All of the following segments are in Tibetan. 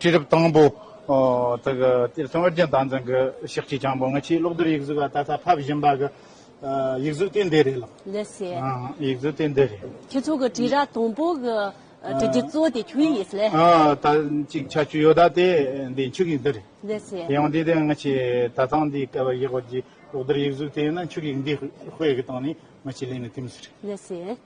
དུས་རབས་དང་པོ་དག་སྟེ་ཐོན་དབྱར་རྒྱལ་དང་ཚང་གི་ཤག་ཁྲིད་ཆེན་པོ་ང་ཆེའི་གློག་རྡུལ་ཡིག་གཟུགས་ལ་ད་ལྟ་ཕབ་བཞིན་པ་གི་ཡིག་གཟུགས་དེ་འདི་རེད་ལ། ལེ་སི། ཡིག་གཟུགས་དེ་འདི་རེད། ཁྱེད་ཚོ་གི་དྲི་ར་དང་པོ་གི་དྲི་རྒྱུ་གཙོ་དེ་ཁྱོད་ཡིན་ལེ། ད་ཅིག་ཆ་ཆུ་ཡོ་ད་དེ་འདི་ཆུ་གིག་འདི་རེད། ལེ་སི། དེ་ཡང་དེ་དེ་ང་ཆེ་ད་ཚང་འདི་སྐལ་བ་བཞི་དགོ་རྒྱུའི་གློག་རྡུལ་ཡིག་གཟུགས་དེ་ཡིན་ན་ཆུ་གིག་འདི་དཔེ་གི་སྟེང་ནས་ང་ཆེ་ལེན་ནི་དེ་མི་སྲིད། ལེ་སི།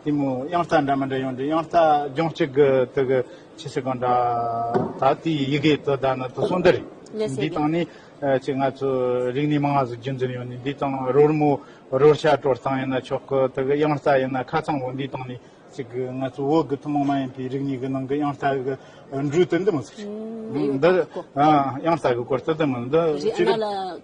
གཏི་མུག་དབྱངས་རྟ་འདྲ་མི་འདྲ་ཡོང་འདུག་དབྱངས་རྟ་ལྗོངས་གཅིག་གི་དུ་གི་ཆེ་ཆེ་གང་འདྲ་ད་ལྟའི་ཡི་གེའི་དོ་ཟླ་ནི་དུ་སོང་འདི་རེད་འདི་དང་ནི་ཆེ་ང་ཚོ་རིག་གནས་མང་སྔགས་སུ་རྒྱུན་འཛིན་ཡོང་ནི་འདི་དང་རོལ་མོ་རོལ་ཤ་དཀྲོལ་སྟངས་ཡིན་ན་ཆོག་གི་དུ་གི་དབྱངས་རྟ་ཡིན་ན་ཁ་ཚང་བོ་འདི་དང་ནི་ཆེ་གི་ང་ཚོ་བོད་གི་ཐུན་མོང་མ་ཡིན་པའི་རིག་གནས་གི་ནང་གི་དབྱངས་རྟ་གི་འབྲུ་དེ་འདི་མི་ཚུགས་ཤིང་འདི་དབྱངས་རྟ་གི་སྐོར་དེ་འདི་མི་འདི་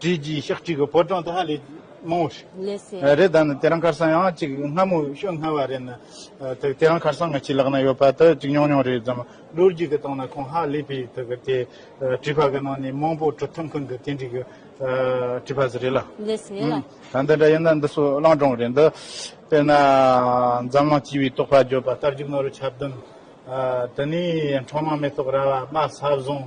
བྲིས་རྗེས་ཞག་གཅིག་གི་བོད་གྲངས་དེ་ཧ་ལས་མང་བོ་ཞིག་རེད་ད་ནི་དེ་རང་ཁར་སང་ཡང་གཅིག་སྔ་མོ་ཤོད་སྔ་བ་རེད་ན་ཐུག་དེ་རང་ཁར་སང་ང་ཕྱི་ལག་ན་ཡོད་པ་དེ་གཅིག་ཉུང་ཉུང་རེད་ཙམ་ལོ་རྒྱུས་ཀྱི་སྟེང་ན་ཁོང་ཧ་ལས་པའི་ཐུག་གི་དེ་བྲིས་པ་གི་ནང་ནས་མང་བོ་གྲུབ་ཐོབ་མཁན་གྱི་དེ་འདྲའི་གི་བྲིས་པ་ཟེར་རེད་ལ་ད་འདི་འདྲ་ཡིན་ན་འདི་སོ་གླང་སྒྲུང་རེད་འདི་དཔེར་ན་འཛམ་གླིང་སྤྱི་བའི་རྟོག་པ་བརྗོད་པ་རྟ་རྒྱུག་ནོར་བུ་ཆ་བདུན་དེ་ནས་འཕྲོག་མ་མེ་ཏོག་ར་བ་དམག་ས་བཟུང།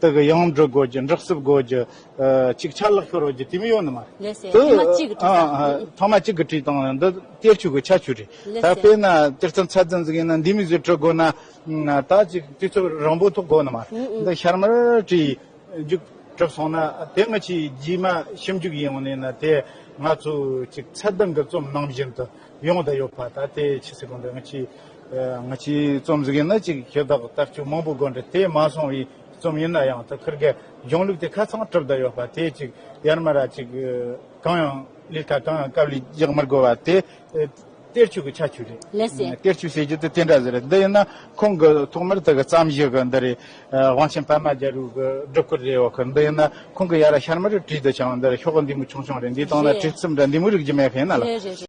དག་གི་ཡོངས་སྒྲུབ་སྒོས་ཀྱི་འབྲོག་སྲིབ་སྒོས་ཀྱི་ཅིག་ཆར་ལག་ཤོར་བའི་རྒྱུ་དེ་མི་ཡོང་ནི་མ་རེད། ཐོག་མ་གཅིག་གི་བྲིས་སྟངས། ཐོག་མ་གཅིག་གི་བྲིས་སྟངས་འདི་གཏེར་ཆོས་ཀྱི་ཆ་ཆོས་རེད། ད་དཔེར་ན་གཏེར་རྩ་མཚར་རྩ་འཛིན་མཁན་ན་འདི་མི་བཟོས་བྲོས་དགོས་ན། ད་ཅིག་དུས་ཚོད་རིང་པོ་ཐོག་དགོས་ནི་མ་རེད། འདི་ཤར་མར་བྲིས་རྒྱུགས་གྲུབ་སོང་ན་དེ་མི་ཕྱིའི་རྗེས་མ་ཞིབ་འཇུག་ཡིན་ཡོང་ནི་ན་དེ་ང་ཚོས་ཅིག་ཚད་ལྡན་གྱི་རྩོམ་ནང་བཞིན་དུ། ཡོང་བདག་ཡོད་པ་ད་ལྟའི་ཕྱི་སྲིད་གོང་འདྲ་ང་ཅིག་ང་ཅིག་རྩོམ་གཟིགས་ཡིན་ན་ཅིག་ཞེ་དག་ལྟ་སྤྱོད་མང་པོ་དགོས་འདྲ་དེ་མ་སོང་བའི་རྩོམ་ཡིན་ན་ཡང་ད་ཁུར་དགའི་གཞུང་ལུགས་དེ་ཁ་ཚང་གྲུབ་བདག་ཡོད་པ་དེ་ཅིག་ཡར་མར་ར་ཅིག་གང་ཡང་ལས་ཀ་གང་ཡང་སྐབས་ལས་རྒྱག་མི་དགོས་པ་དེ་གཏེར་ཆོས་ཀྱི་ཆ་ཆུ་རེད་གཏེར་ཆོས་ཟེར་རྒྱུ་དེ་དེ་འདྲ་ཟེར་རེད་འདི་ཡིན་ན་ཁོང་གི་ཐོག་མར་དག་བརྩམས་གཞི་གི་འདི་རེད་དབང་ཆེན་པད་མ་རྒྱལ་རུས་ཀྱི་སྒྲུབ་སྐོར་རེད་འོ་ཁུ་འདི་ཡིན་ན་ཁོང་གི་ཡར་ཤར་མར་བྲིས་འདི་བྱང་འདི་རེད་ཤོག་འདི་མོ་ཆུང་ཆུང་རེད་འདིའི་སྟེང་ན་བྲིས་རྩིབ་འདྲ་འདི་མོ་རིག་རྒྱུ་མེད་མཁན་ན་ལ།